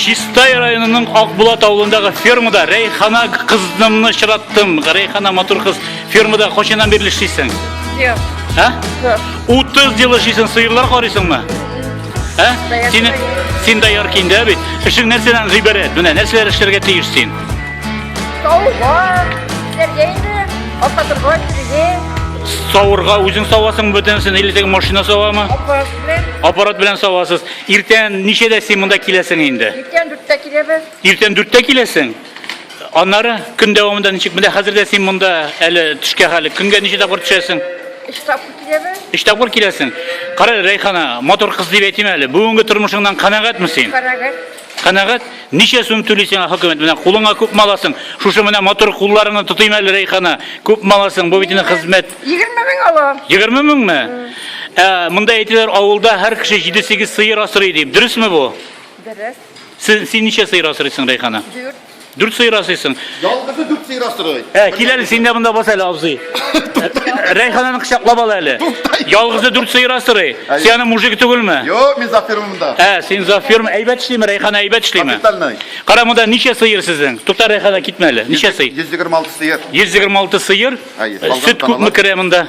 Чистай районының Акбулат авылындагы фермада Рәйхана кызымны чыраттым. Рәйхана матур кыз. Фермада кочынан бирле эшлисең? Юк. Ә? Юк. 30 ел эшлисең, сыерлар карыйсыңмы? Ә? Син син дә яр киндә бит. Эшең нәрсәдән гыйбарәт? Менә нәрсәләр эшләргә тиеш син? Сауга, сәргә инде, апа торга сәргә. Сауырга үзең савасың бөтенсен, или теге машина савамы? Аппарат белән. Аппарат белән савасыз. Иртән ничәдә син монда киләсең инде? Иртән дүрттә киләбез. Иртән дүрттә киләсең? Аннары көн дәвамында ничек? Менә хәзер дә син монда әле төшкә хәле. Көнгә ничә тапкыр төшәсең? Өч тапкыр киләбез. Өч тапкыр киләсең. Кара, Рәйхана, матур кыз дип әйтим әле. Бүгенге тормышыңнан канәгатьме син? Канәгать. Канәгать? Ничә сум түли сиңа хөкүмәт? Менә кулыңа күп маласың. Шушы менә матур кулларыңны тотыйм әле, Рәйхана. Күп маласың, бу бит инде хезмәт. 20 мең алам. 20 меңме? Ә, монда әйтәләр, авылда һәр кеше 7-8 сыер асрый дип. Дөресме бу? Дөрес. Син, син ничә сыер асрыйсың, Рәйхана? Дүрт. Дүрт сыер асыйсың. Ялгызы дүрт сыер асырый. Ә, кил әле, син дә монда бас әле, абзый. Рәйхананы кочаклап ал әле. Ялгызы дүрт сыер асырый. Син аны мужик түгелме? Юк, мин зафирмын монда. Ә, син зафирм әйбәт эшлиме, Рәйхана әйбәт эшлиме? Капитальный. Кара монда ничә сыер сезнең? Тукта Рәйхана китмә әле. Ничә сыер? 126 сыер. 126 сыер. Әйе, Э, салган Сөт күпме таналар. керә монда?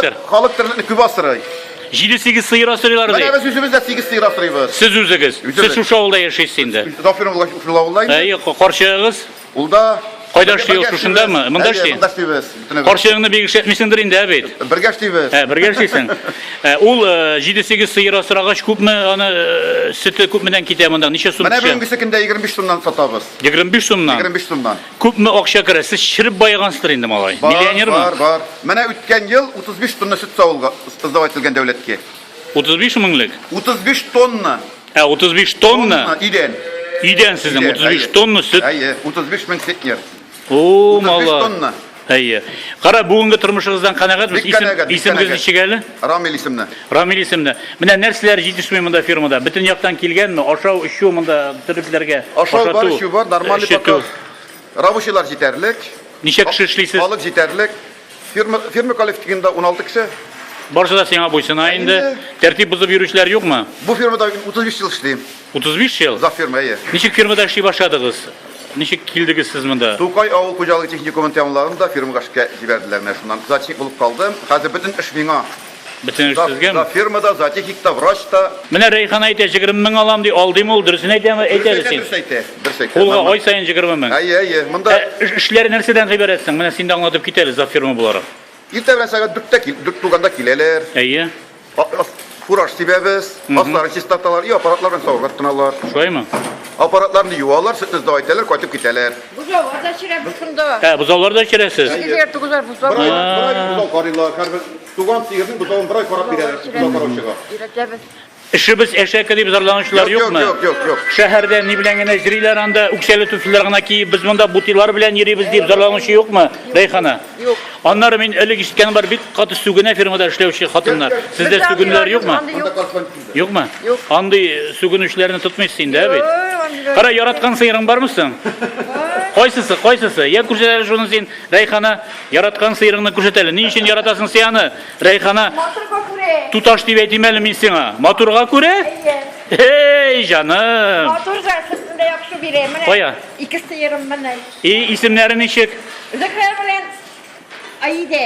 Сер. Халык терлекне күп асрый. 7-8 сыер асрыйлар Менә ди. без үзебез дә 8 сыер асрыйбыз. Сез үзегез. Сез Үзебез. шушы авылда яшисез инде. Зафир улы шул авылда инде. Әйе, карчыгыгыз. Ул да Кайда эшли ул, шушындамы? Монда Әйе, эшли? Монда эшлибез. бөтенебез. Карчыгыңны бик эшләтмисеңдер инде, ә бит? Бергә эшлибез. Ә, бергә эшлисең. Ә, Ул 7-8 сыер асрагач күпме аны э, сөте күпмедән китә монда? Ничә сум Менә төшә? бүгенгесе көндә 25 сумнан сатабыз. 25 сумнан. 25 сумнан. Күпме акча керә? Сез череп баегансыздыр инде, малай. Бар, Миллионермы? бар, бар. Менә үткән ел 35 тонна сөт савылга сдавать ителгән дәүләткә. 35 меңлек? 35 тонна. Ә, 35 тонна? Тонна идән. Идән сезнең Идән, 35 әйе. тонна сөт. Әйе, 35 мең центнер. О, 35 мала. тонна. Әйе. Кара, бүгенге тормышыгыздан канәгатьбез. Бик канәгать, бик Исемегез канәгать. ничек әле? Рамил исемле. Рамил исемле. Менә нәрсәләр җитешми монда фирмада? Бөтен яктан килгәнме? Ашау, эчү монда төрлеләргә. Ашау бар, эчү бар, нормальный пока. Рабочийлар җитәрлек. Ничә кеше эшлисез? Халык җитәрлек. Фирма, фирма коллективында 16 кеше. Барысы да сиңа буйсына инде. Тәртип бозып йөрүчеләр юкмы? Бу фирмада 35 ел эшлим. 35 ел? Озак ферма, әйе. Ничек фермада эшли башладыгыз? Ничек килдегез сез монда? Тукай авыл хуҗалыгы техникумын тәмамлаган да фермага эшкә җибәрделәр менә шуннан. Зоотехник булып калдым. Хәзер бөтен эш миңа. Бөтен эш сезгәме? Да, фермада, зоотехник та, врач та. Менә Рәйхан әйтә, 20 мең алам ди, алдыйм ул, дөресен әйтәме? Әйтәбез син. Дөрес әйтә, дөрес әйтә. Кулга ай саен 20 мең. Әйе, әйе. Монда эшләре нәрсәдән гыйбарәт соң? Менә син дә аңлатып кит әле, зоотферма буларак. Иртә белән сәгать 4-тә кил, 4 тулганда киләләр. Әйе. Фураж сибәбез, аслары чистарталар, и аппаратлар белән савырга тотыналар. Шулаймы? Аппаратларны юалар, сөтне сдау итәләр, кайтып китәләр. Бозаулар да чирәбез шунда. Ә, бозаулар да чирәсез? Әйе. Егер тугызар бозау. Бер ай, бер ай бозау карыйлар, һәрбер туган сигезне бозауын бер ай карап бирәләр, бозау караучыга. Өйрәтәбез. Эшебез әшәке дип зарланучылар Юк, юкмы? юк, юк, юк. Шәһәрдә ни белән генә йөриләр анда, үкчәле түфлиләр генә киеп, без монда бутилар белән йөрибез дип зарланучы юкмы, Рәйхана? Юк. Аннары мин элек ишеткәнем бар, бик каты сүгенә фермада эшләүче хатыннар. Сездә Бездә сүгенүләр андыйлар юкмы? андый Анда колхоз килде. Юкмы? Юк. Андый сүгенүчеләрне тотмыйсыз инде, ә бит? Юк, андыйлар Кара, яраткан сыерың бармы соң? Кайсысы, кайсысы? Я күрсәт әле шуны син, Рәйхана, яраткан сыерыңны күрсәт әле. Ни өчен яратасың син аны, Рәйхана? Матурга күрә. Туташ дип әйтим әле мин сиңа. Матурга күрә? Әйе. Эй, җаным! Матур да, сөтен дә яхшы бирә. Менә Кая? ике сыерым менә. И, исемнәре ничек? Зөһрә белән Аидә.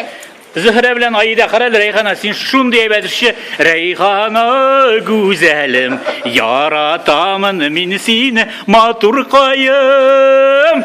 Зөһрә белән Аидә, карале Рәйхана, син шундый әйбәт эшче. Рәйхана гүзәлем, яратамын мин сине, матур каем.